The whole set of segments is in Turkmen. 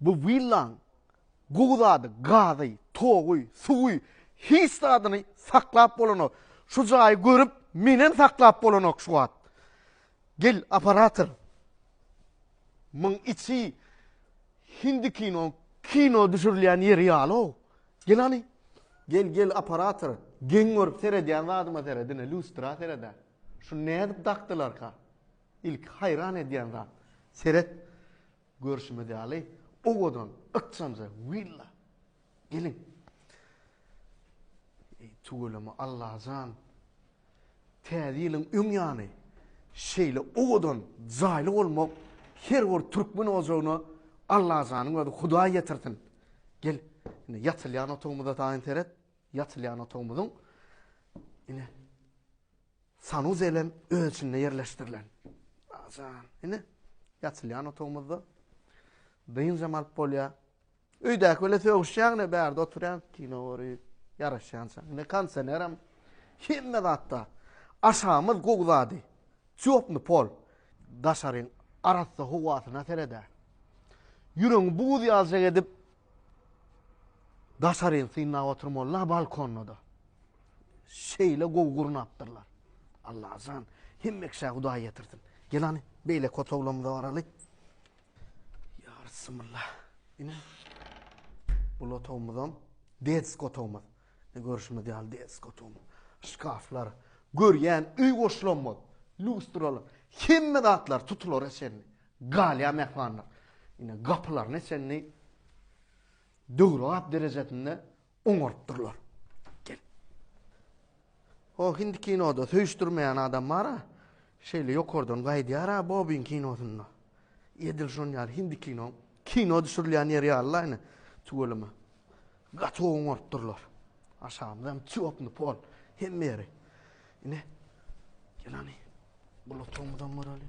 Bu willaň gowy zady, gazy, togy, suwy, hiç zadyny saklap bolanok. Şu jaýy görüp, menem saklap bolanok şu wagt. Gel, operator. Muň içi hindi kinoň kino düşürilýän ýeri ýaly-ow. Gel hany. Gel, gel, operator. Geň görüp seredýän zadyma seret, ine, lýustra sered-ä. Şuny nädip dakdylarka? Ilki haýran edýän zat. Seret. Görşümiz ýaly, owadan, ykjanja willa. Geliň. Eý, tüweleme, Allajan! Täze ýylyň öň ýany şeýle owadan, jaýly bolmak her bir türkmen ojagyna Allajanyň özi Hudaý ýetirsin. Gel, ine, ýatylýan otagymyza taýyn seret. Ýatylýan otagymyzyň, ine, Sanuzel hem öz içinde ýerleşdirilen. Ajan. Ine, ýatylýan otagymyzda dynjam alyp bolýar. Öýdäki bilen sögüşýäň, ine bärde oturýan, kino görýän, ýaraşýança. Ine kondisioner hem hemme zatda. Aşagymyz gowy zady. Çöpni pol. Daşaryň arassa howasyna seredä. Ýüregiňi buz ýaljak edip, Daşaryny synlap oturmaly-la balkonda-da. Şeýle gowy gurnapdyrlar. Allajan, hemme kişä Hudaý ýetirsin. Gel hany, beýleki otaglarymyza baraly. Ýa Rysymylla. Ine. Bul otagymyzam, detsk otagymyz. Ine görşüňiz ýaly deskotom, şkaflar, görýän öý goşlamaz, lýustralar, hemme zatlar tutulara çenli, galýar mähmanlar. Ine gapylaryna çenli döwrebap derejesinde oňarypdyrlar. Gel. O hindi kinoda söýüşdirmeýän adam bar-a, şeýle ýokardan gaýdýar-a Bobin kinosynda. Edil şonuň ýaly hindi kino Kino düşürilýän ýer ýalylaýyny tüweleme. Gaty gowy oňaryp durlar. Aşagymyz hem çöpni pol. Hemme ýeri. Ine. Gelani. Bu lotogumyzam göreli.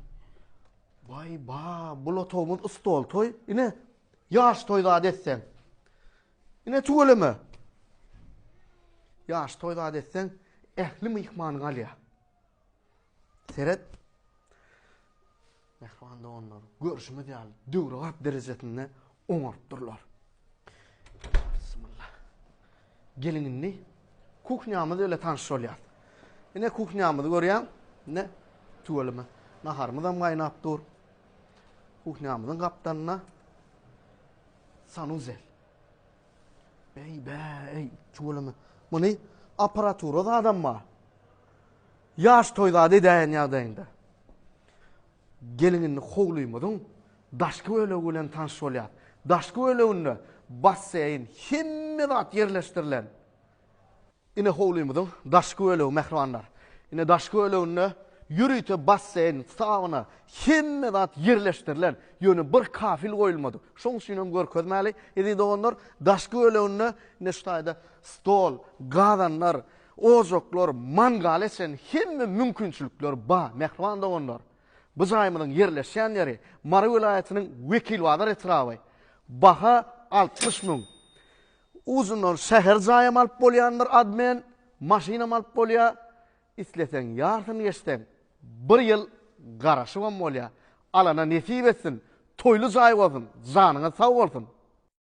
Vay ba, bu lotogumuz ustol toy. Ine. Yaş toy zad etsen. Ine tüweleme. Yaş toy zad etsen. Ehli mihman galya. Seret, mähriban doganlar, görşümiz ýaly, döwrebap derejesinde oňaryp durlar. Bismillah. Geliň indi kuhnýamyz bilen tanyş bolýar. Ine kuhnýamyzy görýän, ine tüweleme. Naharymyz hem gaýnap dur. Kuhnýamyzyň gapdalynda sanuzel. Beý, beý, tüweleme. Muny apparatura zadam bar. Ýaş toý zady edäýen ýagdaýynda. Geliň indi howlymyzyň daşky bölegi bilen tanyş bolýas. Daşky böleginde basseýn, hemme zat ýerleşdirilen. Ine howlymyzyň daşky bölegi mähribanlar. Ine daşky böleginde ýörite basseýn, sauna, hemme zat ýerleşdirilen, ýöne bir kafel goýulmadyk. Şoň üçin hem görkezmäli, eziz doganlar, daşky böleginde ine şu taýda stol, gazanlar, ojaklar, mangala çen hemme mümkinçilikler bar. Mähriban doganlar, bu jaýymyzyň ýerleşýän ýeri Mary welaýatynyň Wekilbazar etraby. Baha altmyş müň. Uzyndan şäher jaýam alyp bolýandyr admin, maşynam alyp bolýa, isleseň ýarsyny geçseň bir ýyl garaşybam bolýa, alana nesip etsin, toýly jaý bolsun, janyňyz sag bolsun.